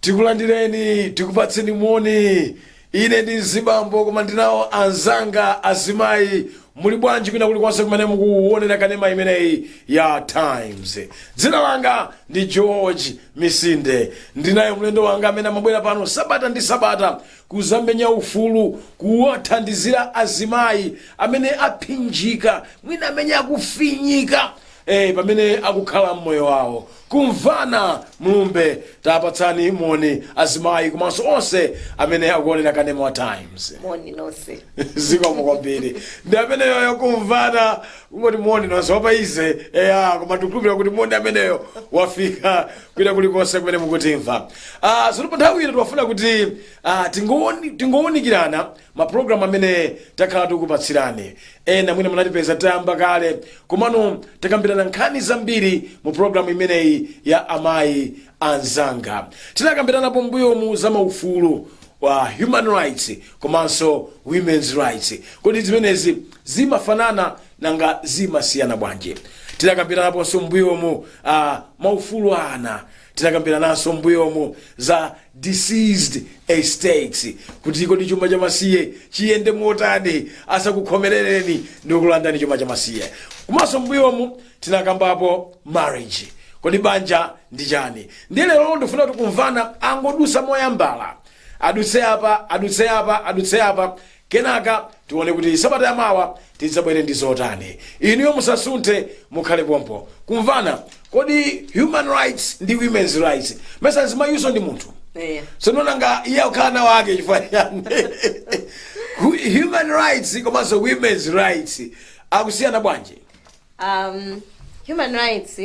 tikulandireni tikupatseni moni ine ndi mzibambo koma ndinawo anzanga azimayi muli bwanji kwina kulikonse kumene mukuwonera kanema imeneyi ya times dzina langa ndi george misinde ndinayo mlendo wanga amene amabwera pano sabata ndi sabata kuzamenya ufulu kuwathandizira azimayi amene aphinjika mwina amene akufinyika eh, pamene akukhala mmoyo wawo kumvana mlumbe tapatsani moni azimayi komanso onse amene akuonera kanema wa times moni nonse zikomo kwambiri ndi ameneyoyo kumvana kungoti moni nonse wapaize eya koma tikukhulupirira kuti moni ameneyo wafika kwina kulikonse kumene mukutimva ah, zonse pa nthawi ino timafuna kuti ah, tingowoni- tingowunikirana mapulogalamu amene takhala tikupatsirani ena mwina munatipeza tayamba kale komano takambirana nkhani zambiri mu pulogalamu imeneyi ya amayi anzanga tinakambiranapo mbuyomu za maufulu wa human rights komanso women's rights kodi zimenezi Zimafanana? Nanga zimasiyana bwanji? Tidakambiranaponso m'mbuyomu uh, maufulu a ana tidakambirananso m'mbuyomu za deceased estates kuti kodi chuma cha masiye chiyende motani asakukhomerereni ndi kulandani chuma cha masiye komanso m'mbuyomu tinakambapo marriage kodi banja ndi chani ndiye lero ndifuna kuti kumvana angodusa moyambala adutse apa adutse apa adutse apa Kenaka tione kuti sabata ya mawa tidzabwere ndi zotani. Inuyo musasunthe, mukhale pompo. Kumvana, kodi human rights ndi women's rights? Mesa mzimayinso ndi munthu. Eya. So nanga iye akukhala nawo ake chifukwa chani? Hu- Human rights komanso women's rights akusiyana bwanji? um, human rights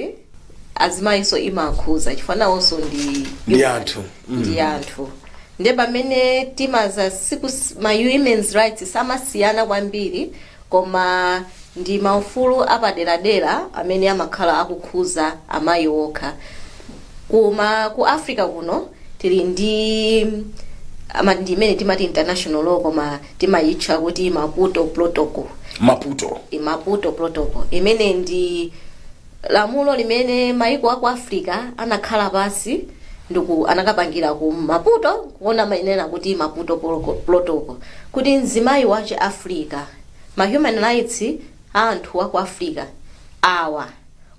azimayinso imakhuza chifukwa nawonso ndi ndi anthu ndi anthu nde pamene timazasikuma women's rights samasiyana kwambiri koma ndi maufulu apaderadera amene amakhala akukhuza amayi okha kuma ku africa kuno tili ndi ama- ndi imene timati international law koma timayitcha kuti maputo protocol maputo i maputo protocol imene ndi lamulo limene maiko aku africa anakhala pansi ndipo anakapangira ku maputo kuona amanena kuti maputo Protocol- protocol kuti mzimayi wachi africa ma human rights a anthu aku africa awa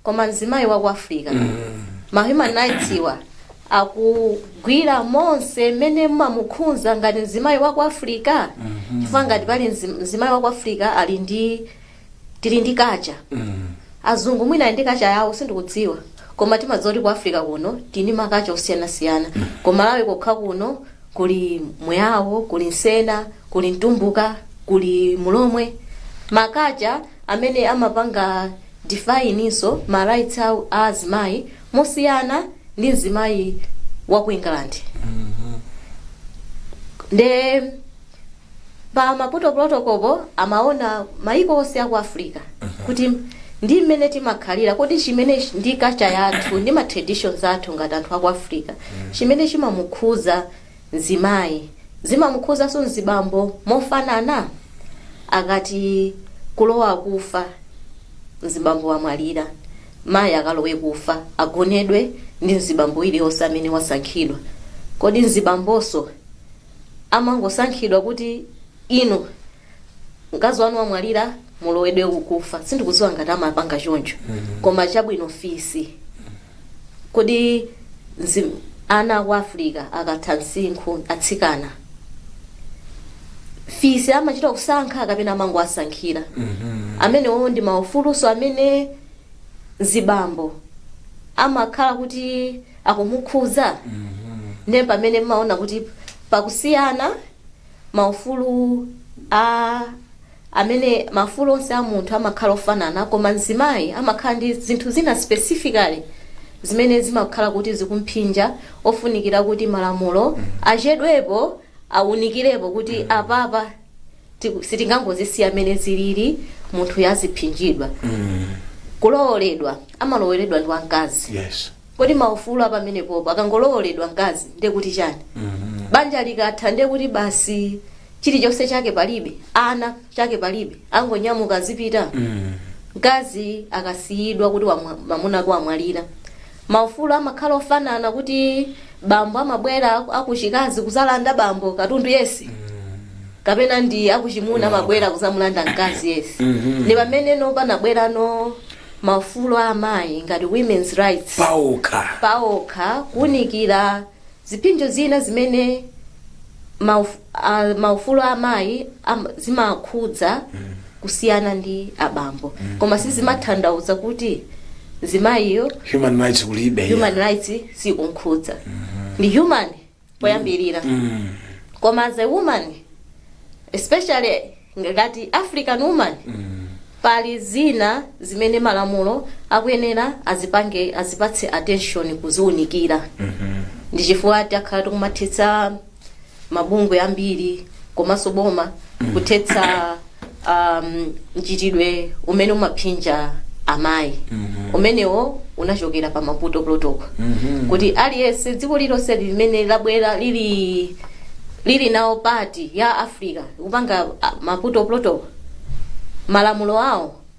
koma mzimayi waku africa ma human rights iwa akugwira monse mmene amamukhunza ngati mzimayi wa ku africa chifukwa ngati pali mzi- mzimayi wa ku africa ali ndi tili ndi kacha azungu mwina ali ndi kacha yawo sindikudziwa koma timadziwa kuti ku africa kuno tili ndi makacha osiyanasiyana ku malawi kokha kuno kuli mweyawo kuli msena kuli mtumbuka kuli mulomwe makacha amene amapanga definenso ma rights awo a azimayi mosiyana ndi mzimayi wa ku england nde pa maputo protocol po amaona maiko onse aku africa kuti ndi mmene timakhalira kodi chimene ch- ndi kacha yathu ndi ma traditions athu ngati anthu aku africa chimene chimamukhuza mzimayi zimamukhuzanso mzibambo mofanana? Akati kulowa kufa mzibambo wamwalira, mayi akalowe kufa agonedwe ndi mzibambo iliyonse amene wasankhidwa. Kodi mzibambonso amangosankhidwa kuti inu mkazi wanu wamwalira mulowedwe kufa? Sindikudziwa ngati amapanga choncho, koma chabwino fisi Kodi nzi, ana aku Africa akatha msinkhu, atsikana, fisi amachita kusankha kapena amangowasankhira? Amenewo ndi maufuluso amene mzibambo amakhala kuti akumukhuza ndiye pamene amaona kuti pakusiyana maufulu a amene maufulu onse a munthu amakhala ofanana koma mzimayi amakhala ndi zinthu zina specifically zimene zimakhala kuti zikumphinja ofunikira kuti malamulo achedwepo awunikirepo kuti apapa tiku- sitingangozisiya mmene zilili munthuyo aziphinjidwa kulowoledwa amalowoledwa ndi wamkazi yes kodi maufulu a pamenepopo akangolowoledwa mkazi ndiye kuti chani banja likatha ndiye kuti basi chilichonse chake palibe ana chake palibe angonyamuka azipita mkazi akasiyidwa kuti wamwa- mwamuna wake wamwalira maufulu amakhala ofanana kuti bambo amabwera aku- akuchikazi kuzalanda bambo katundu yense kapena ndi akuchimuna amabwera kuzamulanda mkazi yense ndi pamene tsono panabwerano maufulu a amayi ngati women's rights paokha. paokha kuunikira ziphinjo zina zimene mauf, a, maufulu a amayi am, zimakhudza kusiyana ndi abambo koma sizimatanthauza kuti mzimayiyo human rights kulibe human rights sikunkhudza ndi human poyambirira Mm. koma as a woman especially ngati african woman Mm. pali zina zimene malamulo akuyenera azipange azipatse attention kuziunikira Mhm. ndi chifukwa takhala tikumathetsa mabungwe ambiri komanso boma kuthetsa um, mchitidwe umene umaphinja amayi umenewo unachokera pa maputo protocol kuti aliyense dziko lilonse limene labwera lili lili nawo part ya africa kupanga ah, maputo protocol malamulo awo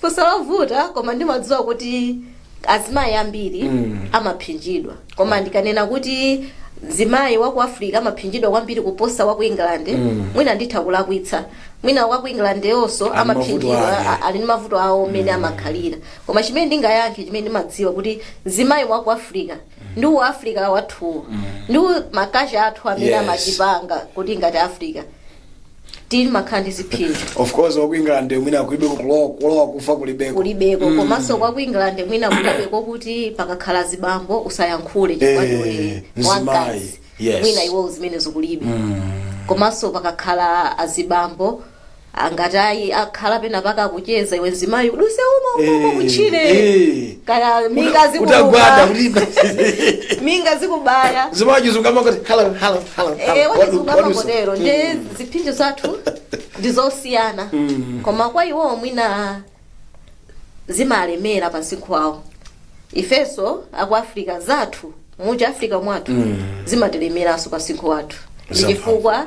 funso lovuta koma ndimadziwa kuti azimayi ambiri amaphinjidwa koma ndikanena kuti mzimayi wa ku africa amaphinjidwa kwambiri kuposa wa ku england mwina nditha kulakwitsa mwina wa ku england naonso Ali amaphinjidwa mavuto ake. a- ali ndi mavuto awo mmene amakhalira koma chimene ndingayankhe chimene ndimadziwa kuti mzimayi wa ku africa ndi u africa wathuwo ndi makacha athu amene Yes. amachipanga kuti ngati africa timakhala ndi ziphinjo of course wa ku england mwina kulibe kulowa kulowa kufa kulibeko kulibeko komanso kwa ku england mwina kulibeko kuti pakakhala azibambo usayankhule chifukwa Eh, ndiwe mzimayi. wamkazi Yes. mwina iwo zimenezo kulibe komanso pakakhala azibambo angati ayi akhala pena pake akucheza iwe mzimayi uduse umo umo umo Eh, kutchire eh. kaya minga utagwada zikuba ulimba minga zikubaya mzimayi wachizungu amangoti hello hello hello Eh, hello What do- wachizungu what do you say? amangotero nde ziphinjo zathu ndi zosiyana koma kwa iwowo mwina zimalemera pa msinkhu wawo ifenso aku africa zathu muja africa mwathu zimatilemeranso pa msinkhu wathu ndi Zamphamvu. chifukwa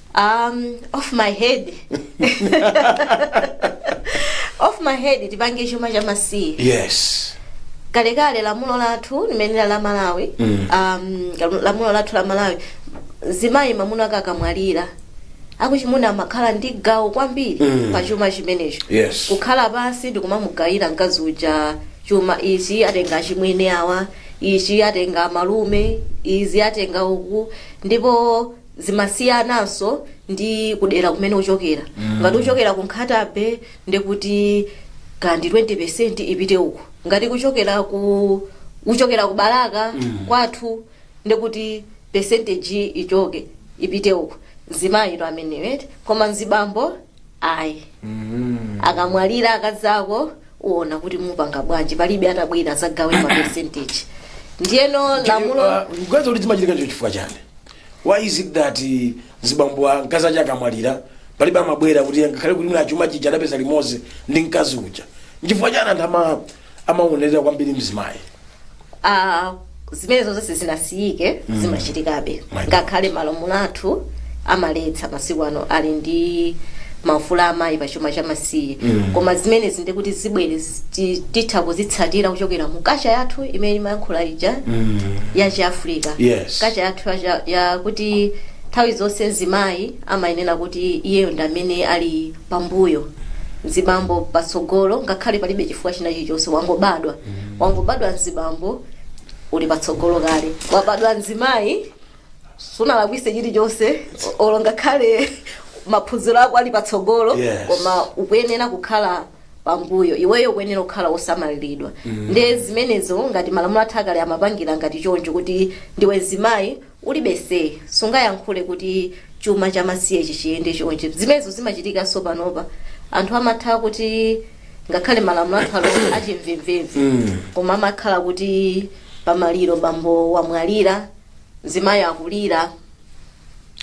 um, off my head off my head tipange chuma cha masiye yes kalekale lamulo lathu limeneli la malawi Mm. um, lamu- lamulo lathu la malawi mzimayi mamuna ake akamwalira akuchimuna amakhala ndi gawo kwambiri Mm. pa chuma chimenecho Yes. kukhala pansi ndikumamugawira mkazi uja chuma ichi atenga achimwene awa ichi atenga malume izi atenga uku ndipo zimasiyananso ndi kudera kumene uchokera ngati uchokera ku nkhatabe ndekuti kaya ndi 20 ipite uko ngati kuchokera ku uchokera ku balaka kwathu ndekuti percentage ichoke ipite uko mzimayi to ameneyo eti koma mzibambo ayi akamwalira akazako uona kuti mupanga bwanji palibe atabwere adzagawe ma percentage ndiyeno lamulo kuganiza kuti zimachitika nde icho chifukwa chani Why is it that mzibambo a mkazi aja akamwalira palibe amabwera kuti ngakhale kuti mwina chuma chija adapeza limodzi ndi mkazi uja nchifukwa chani anthu ama- amaonerera kwambiri mzimayi Ah, zimenezo sizinasiyike zimachitikabe My God. ngakhale malamulo athu amaletsa masiku ano ali ndi maufulu amayi pa chuma cha masi siye koma zimenezi ndi kuti zibwere zi- titha kuzitsatira kuchokera mu culture yathu imene imayankhula ija ya chi Africa Yes. culture yathu ya cha- ya kuti nthawi zonse mzimayi amayenera kuti iyeyo ndi amene ali pambuyo mzibambo patsogolo ngakhale palibe chifukwa china chilichonse wangobadwa wangobadwa mzibambo uli patsogolo kale wabadwa mzimayi sunalakwise chilichonse o- olo ngakhale maphunziro ako ali patsogolo Yes. koma ukuyenera kukhala pambuyo iweyo ukuyenera kukhala wosamaliridwa nde zimenezo ngati malamulo athu akale amapangira ngati choncho kuti ndiwe mzimayi ulibe say sungayankhule kuti chuma cha masiye chiziyenda chonje zimenezo zimachitikanso panopa anthu amatha kuti ngakhale malamulo athu ali achimvemvemve koma amakhala kuti pamaliro bambo wamwalira mzimayi akulira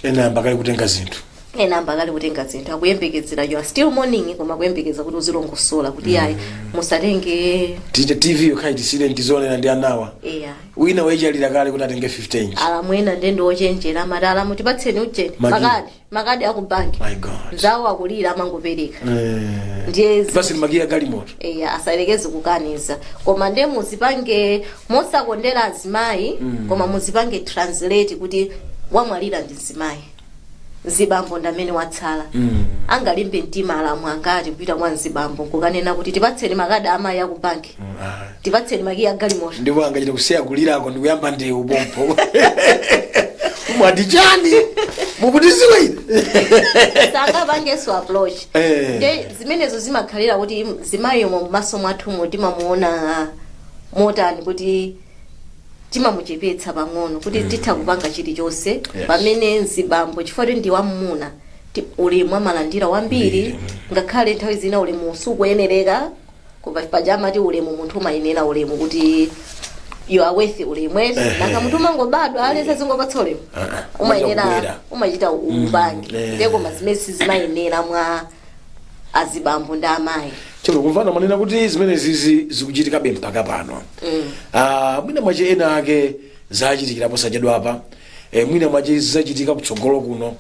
ena ayamba kale kutenga zinthu ena ayamba kale kutenga zinthu akuyembekezera you are still mourning koma akuyembekeza kuti uzilongosola kuti ayi musatenge tite tv yokhayi tisiyireni tizionera ndi anawa eya wina wechalira kale kuti atenge 15 alamu ena ndendi ochenjera amati alamu tipatseni ujeni Magi. makadi makadi akubanki My God. nzawo akulira amangopereka Eh. ndiye zi- Basi ndi makiyi a galimoto. eya asayerekeze kukaniza koma nde muzipange mosakondera azimayi koma muzipange translate kuti wamwalira ndi mzimayi mzibambo ndamene watsala angalimbe mtima alamu angati kupita kwa mzibambo nkukanena kuti tipatseni makadi amayi akubanki tipatseni makiyi a galimoto ndipo angachita kusiya kulirako ndikuyamba ndewu pompo mwati chani mukundidziwa ine sangapangenso approach Eh. nde zimenezo zimakhalira kuti mzimayiyo mmaso mwathumo timamuona motani kuti timamuchepetsa pang'ono kuti titha kupanga chilichonse Yes. pamene mzibambo chifukwa kuti ndi wam'muna ti- ulemu amalandira wambiri ngakhale nthawi zina ulemu sukuyenereka koma paja amati ulemu munthu umayenera ulemu kuti you are worth ulemu eti Ehe. nanga munthu umangobadwa aliyense azingokupatsa ulemu Ah, ah. umayenera Umachita umachita upange eh. ndiye koma zimene zimayendera mwa azibambo ndi amayi chero mukumva ndimanena kuti zimenezizi zikuchitikabe mpaka pano Ah, mwina mwache ena ake zachitikira posachedwapa eh, mwina mwache zizachitika kutsogolo kuno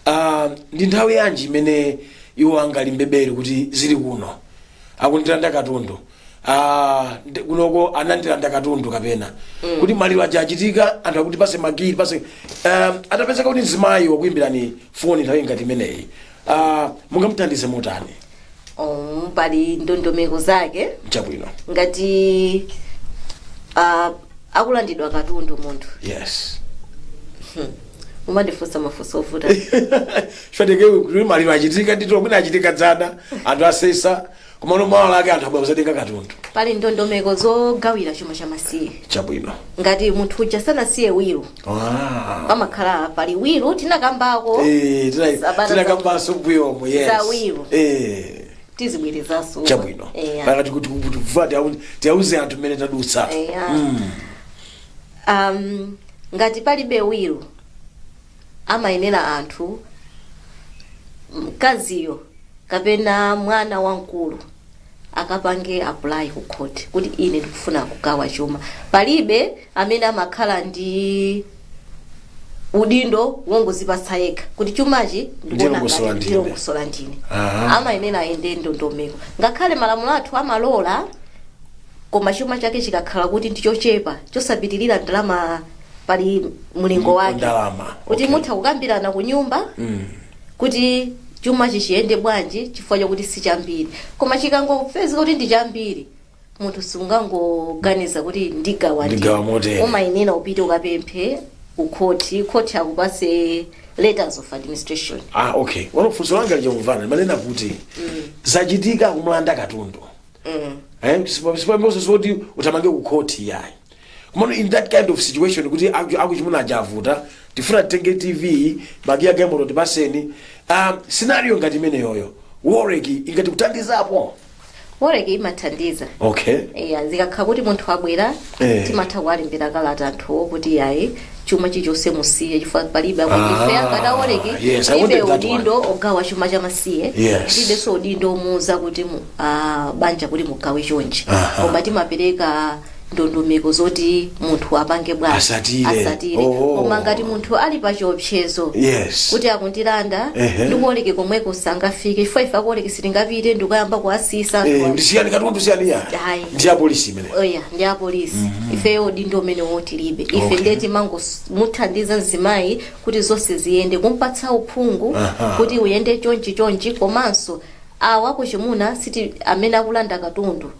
Ah, ndi nthawi yanji imene iwo angalimbebere kuti zilekano akundilanda katundu Ah, ndi- kunoko anandilanda katundu kapena kuti maliro aja achitika anthu akuti pase makiyi pase um, atapezeka kuti mzimayi wakuyimbirani foni nthawi ngati imeneyi Ah, mungamuthandize motani oh, pali ndondomeko zake chabwino ngati uh, akulandidwa katundu munthu yes umandifunsa mafunso ovuta chifukwa kuti maliro achitika ndithu mwina achitika dzana anthu asesa komano mawa lake anthu abwera kuzatenga katundu pali ndondomeko zogawira chuma cha masiye chabwino ngati munthu uja sanasiye wiro Ah. pamakhala pali wiro tinakambako Eh, tina- Sabata tinakambanso mbuyomo yes za wiro. Eh, tizibwerezanso chabwino Eya. pakati kuti kuti vula tiau- tiauze anthu mmene tadutsa Eya. Mm. um, ngati palibe wiro amayenera anthu, mkaziyo kapena mwana wamkulu akapange apply ku court kuti ine ndikufuna kugawa chuma. Palibe amene amakhala ndi udindo wongozipatsa yekha kuti chumachi ndikuona Ndilongosola ngati ndine. ndilongosola ndine. Aha. Amayenera ayende ndondomeko. Ngakhale malamulo athu amalola koma chuma chake chikakhala kuti ndichochepa chosapitirira ndalama pali mlingo Ndipo wake ndalama, kuti okay. mutha kukambirana ku nyumba kuti chumachi chiyende bwanji chifukwa chakuti si chambiri koma chikangopezeka kuti ndi chambiri munthu sungangoganiza kuti ndigawa ndi. Ndigawa motere. umayenera upite ukapemphe ku khoti khoti akupase letters of administration ah okay pano funso langa lija kumvana limanena kuti zachitika kumulanda katundu eh sipamboso zoti uthamange kukhoti yayi komano in that kind of situation kuti aku- akuchimuna aja avuta tifuna titenge tv makiyi a galimoto tipaseni um, scenario ngati imeneyoyo WOLREC ingathe kuthandizapo WOLREC imathandiza okay eya zikakhala kuti munthu abwera Eh. timatha kuwalembera kalata anthuwo kuti yayi chuma chichonse musiye chifukwa palibe Ah, akuife ngati a WOLREC yes, I wanted palibe that one. udindo ogawa chuma chamasiye Yes. palibenso udindo omuuza kuti mu- ah, banja kuti mugawe chonchi Aha. koma timapereka ndondomeko zoti munthu apange bwanji Asatire. asatire Oh. koma ngati munthu ali pa chiopsezo Yes. kuti akundilanda Ehe. ndi ku WOLREC komweko sangafike chifukwa ife a ku WOLREC sitingapite ndikuyamba kuwasiitsa Eh, ndi siyani katundu siyani ya. Ayi. Ndi ya polisi imene. eya ndi apolisi ifeyo udindo umenewo tilibe ife Okay. ndiye timangomuthandiza mzimayi kuti zonse ziyende kumpatsa uphungu Aha. kuti uyende chonchi chonchi komanso awa akuchimuna siti amene akulanda katundu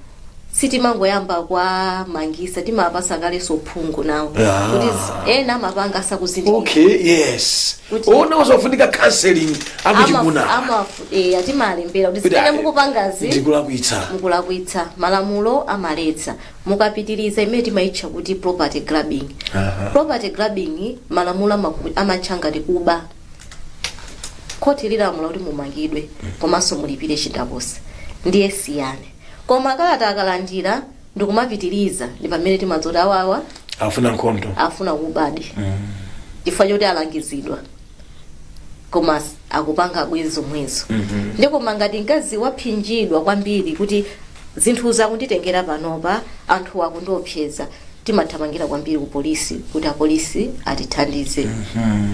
sitimangoyamba kuwamangisa timapasa kayenso uphungu nawo Ah. kuti z- ena amapanga asakuzindikira okay yes Kuti- ona uzofunika counseling akuchimuna amafudeya timalembera kuti Kuti zimene ayi, mukupangazi ndikulakwitsa mukulakwitsa malamulo amaletsa mukapitiriza imene timayitcha kuti property grabbing Aha. property grabbing malamulo amaku- amatcha ngati kuba khoti lilamula kuti mumangidwe komanso mulipire chindapusa ndiye siyani Koma kalata akalandira ndikumapitiriza ndi pamene timadzoti awawa afuna nkhondo afuna kubadi chifukwa choti alangizidwa koma s- akupangabe zomwezo ndi koma ngati mkazi waphinjidwa kwambiri kuti zinthuzi akunditengera panopa anthu akundiopseza timathamangira kwambiri ku polisi kuti apolisi atithandize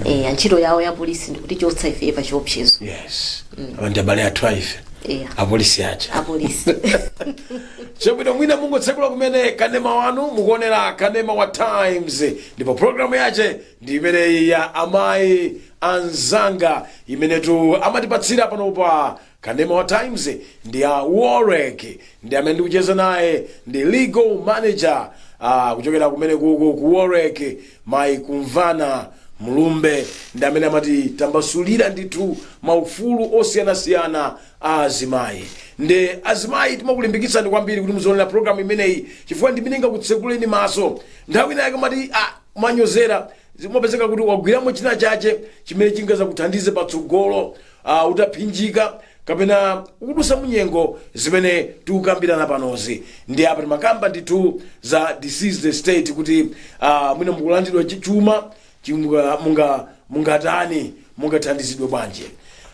Eh, ntchito yawo ya polisi ndikutichotsa ife pa chiopsezo yes apa ndi abale athu aife Iya. apolisi aja apolisi chabwino mwina mungotsekula kumene kanema wanu mukuonera kanema wa times ndipo programu yache ndi imeneyi ya amayi anzanga imenetu amatipatsira pano pa kanema wa times ndi ya WOLREC ndi amene ndikucheza naye ndi legal manager uh, kuchokera kumene kuku ku WOLREC Mayi Kumvana Mlumbe ndi amene amatitambasulira ndithu maufulu osiyanasiyana a azimayi. Nde azimayi timakulimbikitsani kwambiri kuti muzionera program imeneyi chifukwa ndi imene ingakutsekuleni maso. Nthawi ina yake umati ah, umanyozera zimapezeka kuti wagwiramo china chache chimene chingazakuthandize patsogolo a utaphinjika kapena ukudusa munyengo zimene tikukambirana panozi ndiye apa timakamba ndithu za deceased estate kuti uh, mwina mukulandidwa chi- chuma chi- munga- munga- mungatani mungathandizidwe bwanji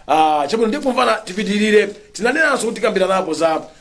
uh, chabwino ndiye Kumvana tipitirire tinanenanso kuti tikambiranapo za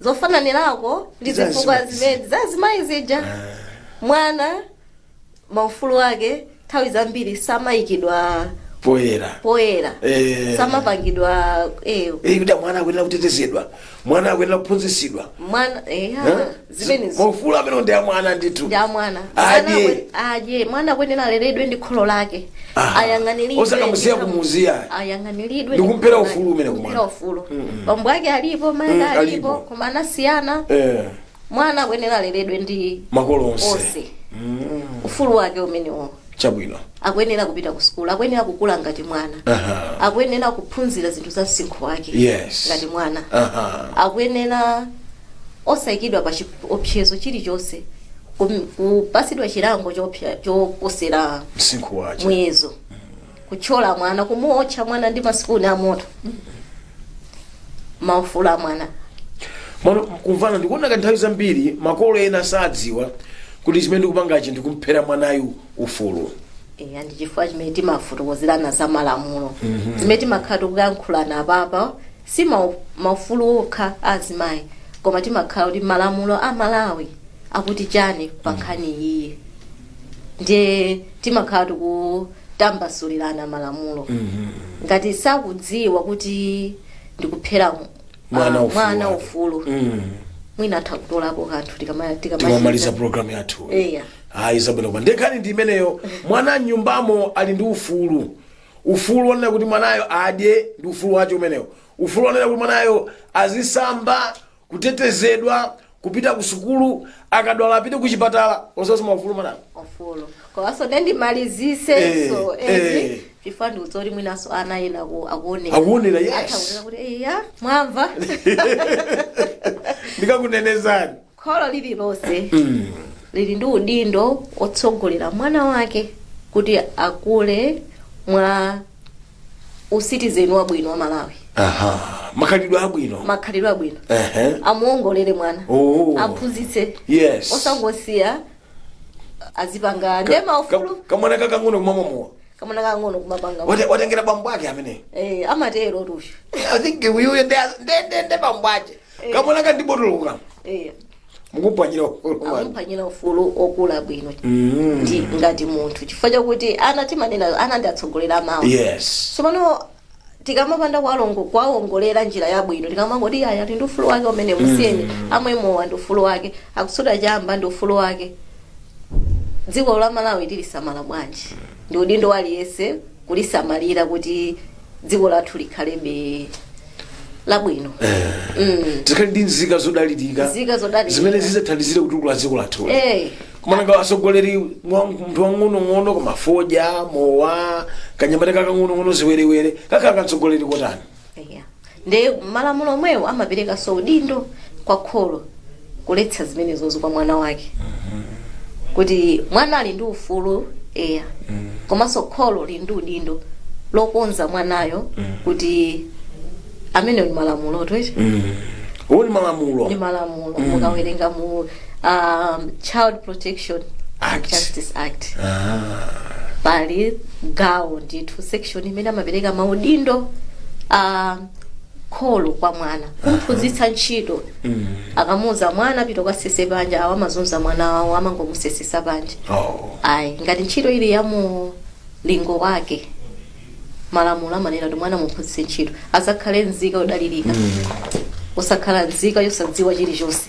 zofananirako ndi Za zifukwa azimayi. zimene za azimayi zija mwana maufulu ake nthawi zambiri samayikidwa poyera poyera Eh. samapangidwa eh, Eh, kuti mwana akuyenera kutetezedwa mwana akuyenera kuphunzitsidwa mwana eh, ha, Eh? zimenezi maufulu amene ndi a mwana ndithu ndi a mwana Adye. Mwana akwe- adye mwana akuyenera aleredwe ndi kholo lake ayang'aniridwe osakamusiya ndithu. kumusiya ayang'aniridwe Ndikumphera ndithu. ufulu umene kumwana. Ndikumphera ufulu bambo ake alipo mayi Mm, ake alipo. alipo koma anasiyana eh, mwana akuyenera aleredwe ndi makolo onse onse ufulu wake umenewo chabwino akuyenera kupita ku sukulu akuyenera kukula ngati mwana Aha. akuyenera kuphunzira zinthu za msinkhu wake Yes. ngati mwana Aha. akuyenera osayikidwa pa chiopsezo chilichonse kum- kupasidwa chilango chopsa- choposera msinkhu wake muyezo kuthyola mwana kumuotcha mwana ndi masipuni a moto maufulu a mwana kumvana ndikuona ngati nthawi zambiri makolo ena sadziwa kuti chimene ndikupangachi ndikumphera mwanayu ufulu eya ndi chifukwa chimene timafotokozerana za malamulo zimene timakhala tikuyankhulana apapa Si maufulu okha a azimayi koma timakhala kuti malamulo a Malawi akuti chani pa nkhani iyiyi ndiye timakhala tikutambasulirana malamulo ngati sakudziwa kuti ndikuphera mu- Mwana ah, ufulu mwana wake. ufulu Mm. mwina atha kutolapo kanthu tikama- tikamaliza tikamachita programu yathu Eya. ayi zabwino kwa- nde nkhani ndi imeneyo mwana mnyumbamo ali ndi ufulu ufulu wonena kuti mwanayo adye ndi ufulu wake umenewo ufulu wonena kuti mwanayo azisamba kutetezedwa kupita ku sukulu akadwala apite ku chipatala osasowa ufulu mwanayo ufulu komanso nde ndimalizenso Eh, eh. eti chifukwa ndikudziwa kuti mwinanso ana ena aku- akuonera Akuonera, yes. Atha kuonera kuti eya mwamva ndikakunenezani kholo lililonse lili ndi udindo wotsogolera mwana wake kuti akule mwa usitizeni wabwino wa malawi aha makhalidwe abwino makhalidwe abwino Ehe. amuongolere mwana Oh. aphunzitse Yes. osangosiya azipanga nde maufulu Ka- kamwana kakang'ono kumamwa mowa kamwana kang'ono kumapanga Wate- watengera bambo ake amene eh, amatero tu iyo i think uyuyo ndende bambo ake Eh. kamwana ka ndi botolo kano Eh, mukuphwanyira ufulu wanu amuphwanyira ufulu wokula bwino Mm. ndi ngati munthu chifukwa chakuti ana timanena ana ndi atsogoleri a mawa yes tsopano tikamapanda kuwalongo- kuwawongolera njira yabwino tikamangoti aya ndi ufulu wake umene musiyeni amwe mowa ndi ufulu wake akusuta chamba ndi ufulu wake dziko la malawi tilisamala bwanji ndi udindo wa aliyense kulisamalira kuti dziko lathu likhalebe labwino mm. tikhale ndi nzika zodalirika Nzika zodalirika. zimene zidzathandizire kutukula dziko lathu eh. koma nanga atsogoleri mwa- munthu wang'onong'ono koma fodya mowa kanyamata kakang'onong'ono ziwerewere kakhala katsogoleri kotani Eya. Ndiye malamulo omwewo amaperekanso udindo kwa kholo kuletsa zimenezozo kwa mwana wake. Kuti mwana ali ndi ufulu, eya. Komanso kholo lili ndi udindo lokonza mwanayo kuti amenewo ndi malamulo tu eti. Uwo ndi malamulo. Ndi malamulo mukawerenga mu um, child protection Act. justice act Ah, pali gawo ndithu section imene amapereka maudindo a kholo kwa mwana kumphunzitsa ntchito mm. akamuuza mwana pita ukasese panja awo amazunza mwana wawo amangomusesesa panja oh. ayi ngati ntchito ili ya mulingo wake malamulo amanena kuti mwana mumphunzitse ntchito azakhale nzika yodalirika osakhala nzika yosadziwa chilichonse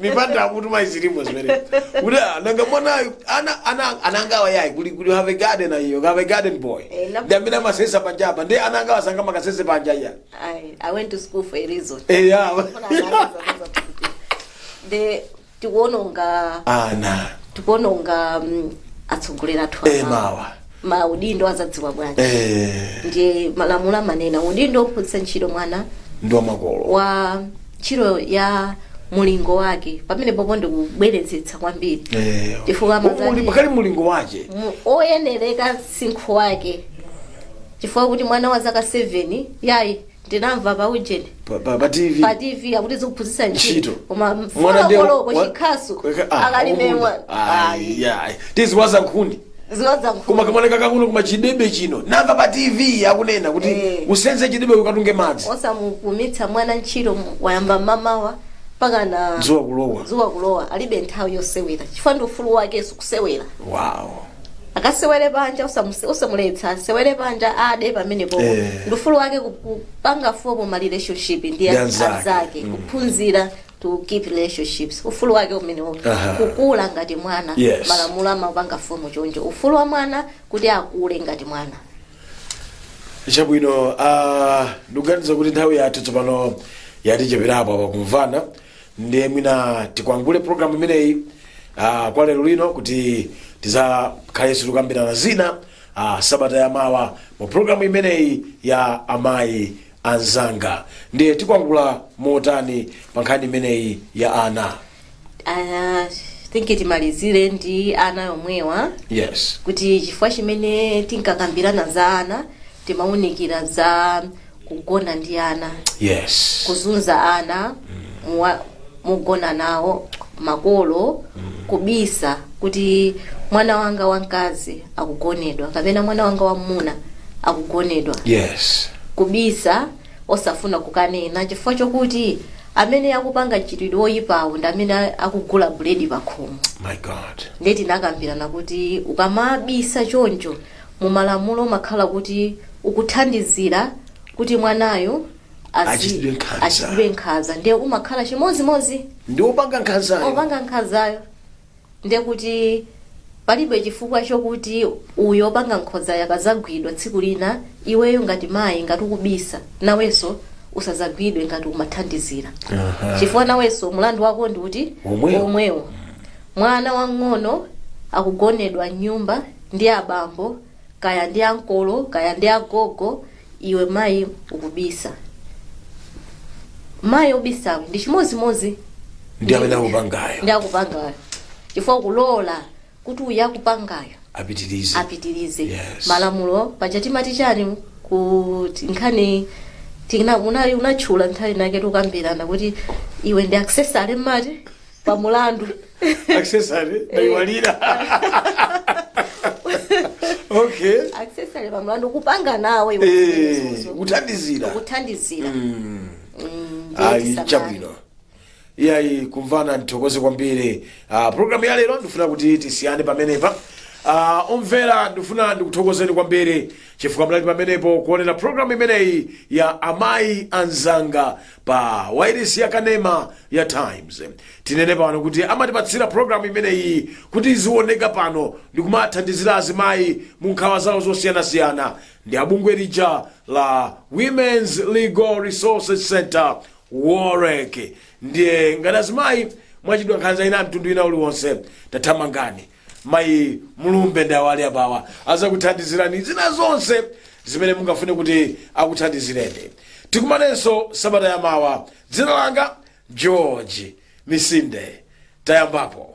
mipanda akutuma izi zilimo zimene kuti ah, nanga mwanayu ana ana anangawa yayi we we have a garden ayo have a garden boy Eh, na- ndi amene amasesa panjapa nde anangawa sangamakasese panja iya I, I went to school for a reason. eh ya nde tikuononga ana tikuononga mm, atsogoleri athu eh amawa. mawa maudindo azadziwa bwanji eh, ndiye malamulo amanena udindo wophunzitsa ntchito mwana ndi wamakolo wa ntchito ya mulingo wake pamene popo ndikubwerezetsa kwambiri Eh, chifukwa muli- amazati pakali mulingo wache mu- oyenereka msinkhu wake chifukwa kuti mwana wa zaka 7 yayi ndinamva pa ujeni Pa- pa- pa TV. pa tv akuti zikuphunzitsa ntchito Ntchito. koma Mwana mfuna ndiye koloko wa- chikhasu Kaka- ah, akalime kumunda. Ayi, ayi. tiziwaza nkhuni ziwaza koma nkhuni kamwana kakang'ono koma chidebe chino namva pa tv akunena kuti Eh. usenze chidebe ukatunge madzi osamupumitsa mwana ntchito mu- wayamba mamawa mpaka na Dzuwa kulowa. dzuwa kulowa alibe nthawi yosewera chifukwa ndi ufulu wakenso kusewera wow akasewere panja usamus- usamuletsa asewere panja ade pamenepo Eh. ndi ufulu wake ku- kupanga form ma relationship ndi Ndi a- anzake. anzake kuphunzira to keep relationships ufulu wake umenewo Aha. kukula ngati mwana Yes. malamulo amaupanga form choncho ufulu wa mwana kuti akule ngati mwana chabwino ah, ndikuganiza kuti nthawi yathu tsopano yaticheperapo apa kumvana ndiye mwina tikwangule programu imeneyi uh, kwa lero lino kuti tizakhalenso tikukambirana zina uh, sabata ya mawa mu programu imeneyi ya amayi anzanga ndiye tikwangula motani pa nkhani imeneyi ya ana Ah, think timalizire ndi ana yomwewa yes kuti chifukwa chimene tinkakambirana za ana timaunikira za kugona ndi ana yes kuzunza ana muwa- mogona nawo makolo kubisa kuti mwana wanga wamkazi akugonedwa kapena mwana wanga wamuna akugonedwa yes kubisa osafuna kukanena chifukwa chokuti amene akupanga mchitidwe woyipawo ndi amene akugula buledi pakhomo my god nde tinakambirana kuti ukamabisa choncho Mu malamulo umakhala kuti ukuthandizira kuti mwanayo achitidwe nkhanza ndiye umakhala chimodzimodzi ndi opanga nkhanzayo ndiye kuti palibe chifukwa chokuti uyo opanga nkhanzayo akazagwidwa tsiku lina iweyo ngati mayi ngati ukubisa nawenso usazagwidwe ngati umathandizira chifukwa nawenso mlandu wako ndi kuti womwewo mwana wang'ono akugonedwa m'nyumba ndi abambo kaya ndi ankolo kaya ndi agogo iwe mayi ukubisa mayi obisawe ndi chimodzimodzi ndi amene akupangayo chifukwa ukulola kuti uyu akupangayo apitirize Yes. malamulo paja timati chani kuti nkhani tina- una- unatchula nthawi inayake tikukambirana kuti iwe ndi accessory mmati pa mulandu accessory ndaiwalira okay accessory pa mlandu kupanga nawo iwe Eh, zimenezozo. kuthandizira Mm, ndiye ayi tisamale. chabwino iyayi kumvana ndithokoze kwambiri Ah, programu ya lero ndifuna kuti tisiyane pamenepa Ah, omvera ndifuna ndikuthokozeni kwambiri chifukwa munali pamenepo kuonera programu imeneyi ya amayi anzanga pa wairesi ya kanema ya times tinene pano kuti amatipatsira programu imeneyi kuti izioneka pano ndikumathandizira azimayi mu nkhawa zawo zosiyanasiyana ndi abungwe lija la women's legal resources center wolrec ndiye ngati azimayi mwachitidwa nkhanza ina ya mtundu wina uliwonse tathamangani mayi mulumbe ndi awa ali apawa azakuthandizirani zina zonse zimene mungafune kuti akuthandizireni tikumanenso sabata yamawa dzina langa george misinde tayambapo